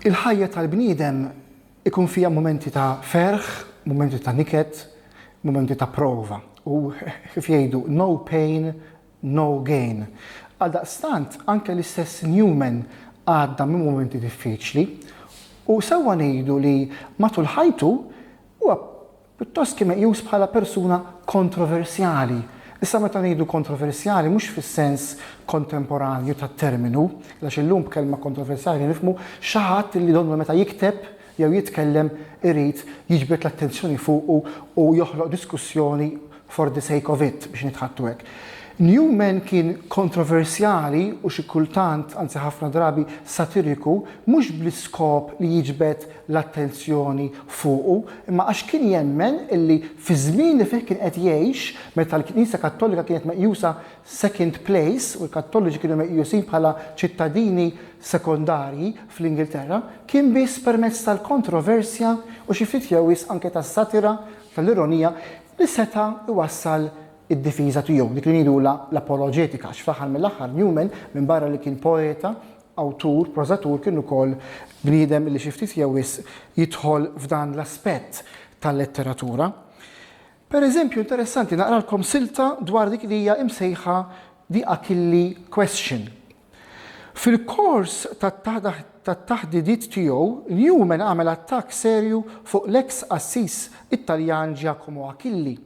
Il-ħajja tal-bniedem ikun fija momenti ta' ferħ, momenti ta' niket, momenti ta' prova. U kif jgħidu, no pain, no gain. Għaldaqstant, anke l-istess Newman għadda minn mumenti diffiċli u sewwa ngħidu li matul ħajtu huwa pjuttost kien meqjus bħala persuna kontroversjali. Issa meta ngħidu kontroversjali mhux fis-sens kontemporanju tat-terminu, għax illum b'kelma kontroversjali nifhmu xi ħadd li donnu meta jikteb jew jitkellem irid jiġbed l-attenzjoni fuqu u joħloq diskussjoni for the sake of it, biex nitħattu hekk. Newman kien kontroversjali u xi kultant, anzi ħafna drabi, satiriku, mhux bl-iskop li jiġbed l-attenzjoni fuqu, imma għax kien jemmen illi fiż-żmien li fih kien qed jgħix, meta l-Knisja Kattolika kienet meqjusa second place, u l-Kattoliċi kienu meqjusin bħala ċittadini sekondarji fl-Ingilterra, kien biss permezz tal-kontroversja u xi ftit jew wisq anke tas-satira, tal-ironija, li seta' jwassal id-difiża tiegħu, dik li ngħidulha l-apoloġetika, għax fl-aħħar mill-aħħar Newman, minbarra li kien poeta, awtur, prożatur, kien ukoll bniedem li xi ftit jew wisq jidħol f'dan l-aspett tal-letteratura. Per eżempju, interessanti naqralkom silta dwar dik li hija imsejħa The Achille Question. Fil-kors tat-taħdidiet tiegħu, Newman għamel attakk serju fuq l-eks qassis Italjan Giacomo Achille,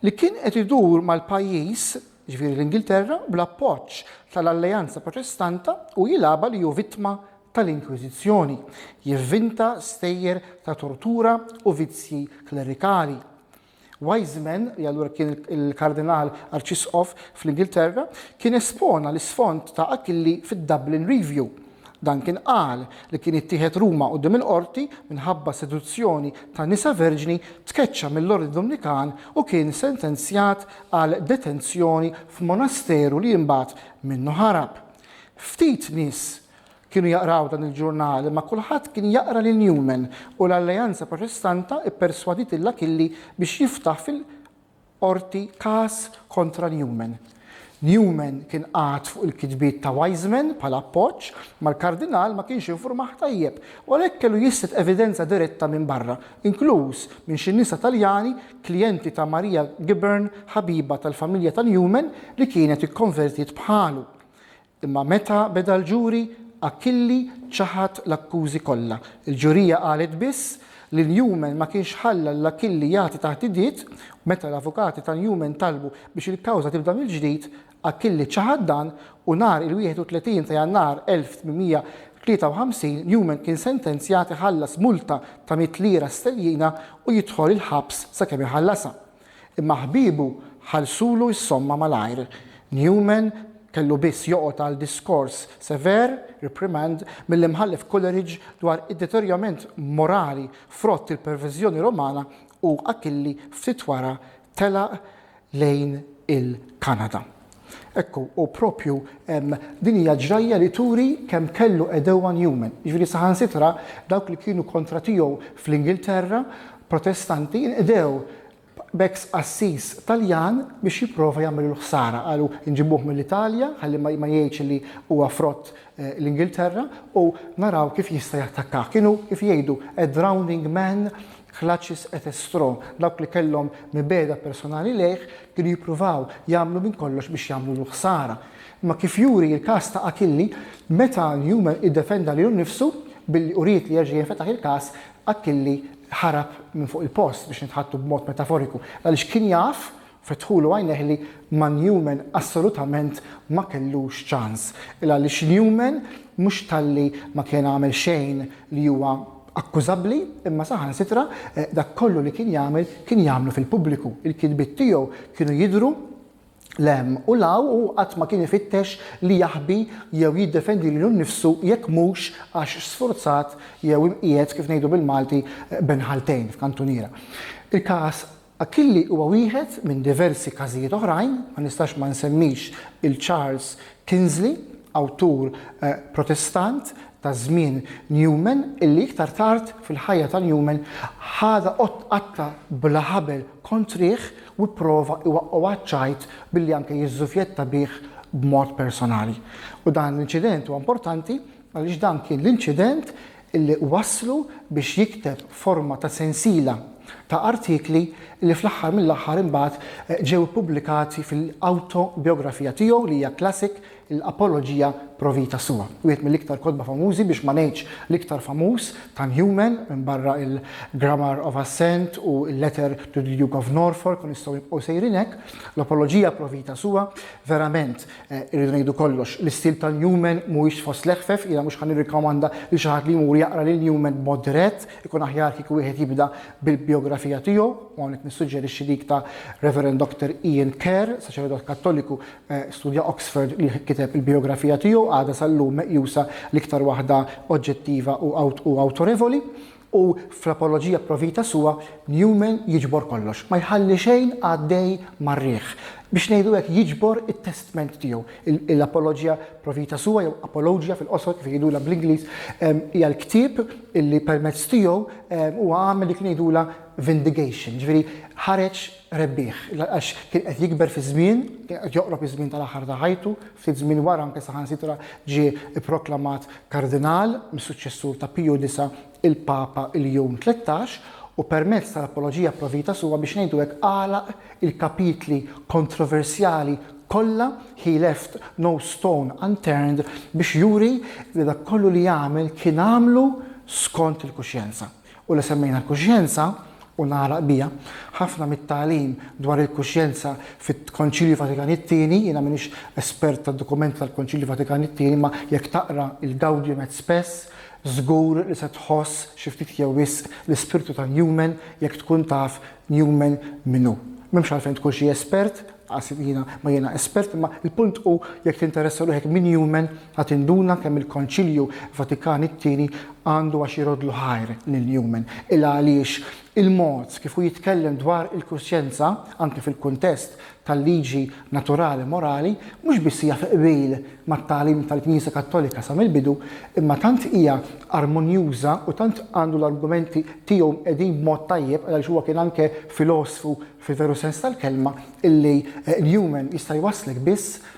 li kien qed idur mal-pajjiż, jiġifieri l-Ingilterra, bl-appoġġ tal-Alleanza Proċestanta u jilgħabha li hu vittma tal-Inkwiżizzjoni, jivvinta stejjer ta' tortura u vizzji klerikali. Wiseman, li allura kien il-Kardinal Arċisqof fl-Ingilterra, kien espona l-isfond ta' Achille fid-Dublin Review. Duncan qal li kien ittieħed Ruma quddiem il-qorti minħabba seduzzjoni ta' nisa verġni, tkeċċa mill-Ordni Domnikan u kien sentenzjat għal detenzjoni f'monasteru li imbagħad minnu ħarab. Ftit nies Kienu jaqraw dan il-ġurnal, imma kulħadd kien jaqra lil Newman, u l-Alleanza Protestanta pperswadiet lil Achilli biex jiftaħ fil-Qorti każ kontra Newman. Newman kien qagħad fuq il-kitbiet ta' Wiseman bħala appoġġ, imma l-Kardinal ma kienx infurmah tajjeb, u għalhekk kellu jislet evidenza diretta minn barra, inkluż minn xi nisa Taljani klijenti ta' Maria Gibbern, ħabiba tal-familja ta' Newman li kienet ikkonvertiet bħalu. Imma meta beda l-ġuri, Achille ċaħad l-akkużi kollha. Il-ġurija qalet biss li Newman ma kienx ħalla lil Achille jagħti taħdidiet u meta l-avukati ta' Newman talbu biex il-kawża tibda mill-ġdid, Achille ċaħad dan u nhar il-31 ta' Jannar 1853 Newman kien sentenzjat iħallas multa ta' mitt lira sterlina u jidħol il-ħabs sakemm iħallasha. Imma ħbiebu ħallsulu s-somma malajr. Newman kellu biss joqgħod għal diskors sever, reprimand, mill-Imħallef Coleridge dwar id-deterjorament morali frott il-perviżjoni Rumana u Achille ftit wara telaq lejn il-Kanada. Ekku, u propju din hija ġrajja li turi kemm kellu għedewwa Newman. Jiġifieri saħansitra dawk li kienu kontra tiegħu fl-Ingilterra, Protestanti, inqdew b'ex qassis Taljan biex jipprova jagħmillu l-ħsara. Qalu nġibuh mill-Italja ħalli ma jgħidx li huwa frott eh, l-Ingilterra u naraw kif jista' jattakkah. Kienu kif jgħidu a drowning man Chlacis et estro, dawk li kellhom mibegħda personali lejh kienu jippruvaw jagħmlu minn kollox biex jagħmlulu ħsara. Imma kif juri l-każ ta' Achille, meta Newman iddefenda lilu nnifsu billi uriet li jerġa' jinfetaħ il-każ, Achille ħarab minn fuq il-post, biex nitħattu b'mod metaforiku, għaliex kien jaf, Fetħulu għajnejh li ma' Newman assolutament ma kellux ċans. Il għaliex Newman mhux talli ma kien għamel xejn li huwa akkużabbli imma saħansitra dak kollu li kien jagħmel kien jagħmlu fil-pubbliku. Il-kitbiet tiegħu kienu jidhru 'l hemm u 'l hawn u hu qatt ma kien ifittex li jaħbi jew jiddefendi lilu nnifsu jekk mhux għax sfurzat jew imqiegħed kif ngħidu bil-Malti bejn ħaltejn f'kantuniera. Il-każ Achille huwa wieħed minn diversi każijiet oħrajn, ma nistax ma nsemmix il-Charles Kingsley, awtur Protestant ta' żmien Newman illi iktar tard fil-ħajja ta' Newman ħadha qatta bla ħabel kontrih u pprova iwaqqgħu għaċ-ċajt billi anke jiżżufjetta bih b'mod personali. U dan l-inċident huwa importanti għaliex dan kien l-inċident li wasslu biex jikteb forma ta' sensiela ta' artikli li fl-aħħar mill-aħħar imbagħad ġew ippubblikati fil-awtobiografija tiegħu li hija classic, l-Apologia pro vita sua. Wieħed mill-iktar kotba famużi biex ma ngħidx l-iktar famuż ta' Newman minbarra il-Grammar of Assent u l-Letter to the Duke of Norfolk u nistgħu nibqgħu sejrin hekk. L-Apologia pro vita sua verament Irridu ngħidu kollox, l-istil ta' Newman mhuwiex fost l-eħfef, jiena mhux ħa nirrikkomanda lil xi ħadd li jmur jaqra lil Newman b'mod dirett, ikun aħjar kieku wieħed jibda bil-bijografija tiegħu, u hawnhekk nissuġġerixxi dik ta' Rev. Dr. Ian Kerr, saċerdot Kattoliku, studja Oxford li kiteb il-bijografija tiegħu, għadha sal-lum meqjusa l-iktar waħda oġġettiva u awtorevoli. U fl-apoloġija pro vita sua, Newman jiġbor kollox, ma jħalli xejn għaddej mar-riħ. Biex ngħidu hekk, jiġbor it-testment tiegħu. L-apoloġija pro vita sua, jew apologia fil-qosor kif jgħidulha bl-Ingliż, hija l-ktieb li permezz tiegħu huwa għamel dik li ngħidulha vindigation, jiġifieri ħareġ rebbieħ, għax kien qed jikber fiż-żmien, kien qed joqrob iż-żmien tal-aħħar ta' ħajtu, ftit żmien wara anke saħansitra ġie pproklamat kardinal mis-suċċessur ta' Piju Disa', il-Papa Ljon Tlettax, u permezz tal-Apologia pro Vita Sua biex ngħidu hekk għalaq il-kapitli kontroversjali kollha, he left no stone unturned biex juri li dak kollu li għamel kien għamlu skont il-kuxjenza. u li semmejna l-kuxjenza, u nagħlaq biha, ħafna mit-tagħlim dwar il-kuxjenza fil-Konċilju Vatikan it-Tieni, jiena m'iniex espert tad-dokumenti tal-Konċilju Vatikan it-Tieni imma jekk taqra il-Gaudium et Spes żgur li se tħoss xi ftit jew wisq l-ispirtu ta' Newman jekk tkun taf Newman min hu. M'hemmx għalfejn tkun xi espert, laqas jiena ma jiena espert imma l-punt hu jekk tinteressa ruħek minn Newman, La tinduna kemm il-Konċilju Vatikan it-Tieni għandu għax iroddlu ħajr lil Newman, ilha għaliex il-mod kif hu jitkellem dwar il-kuxjenza, anki fil-kuntest tal-liġi naturali morali, mhux biss hija fi qbil mat-tagħlim tal-Knisja Kattolika sa mill-bidu, imma tant hija armonjuża u tant għandu l-argumenti tiegħu mqegħdin b'mod tajjeb, għaliex huwa kien anke filosfu fil-veru sens tal-kelma, illi Newman jista' jwasslek biss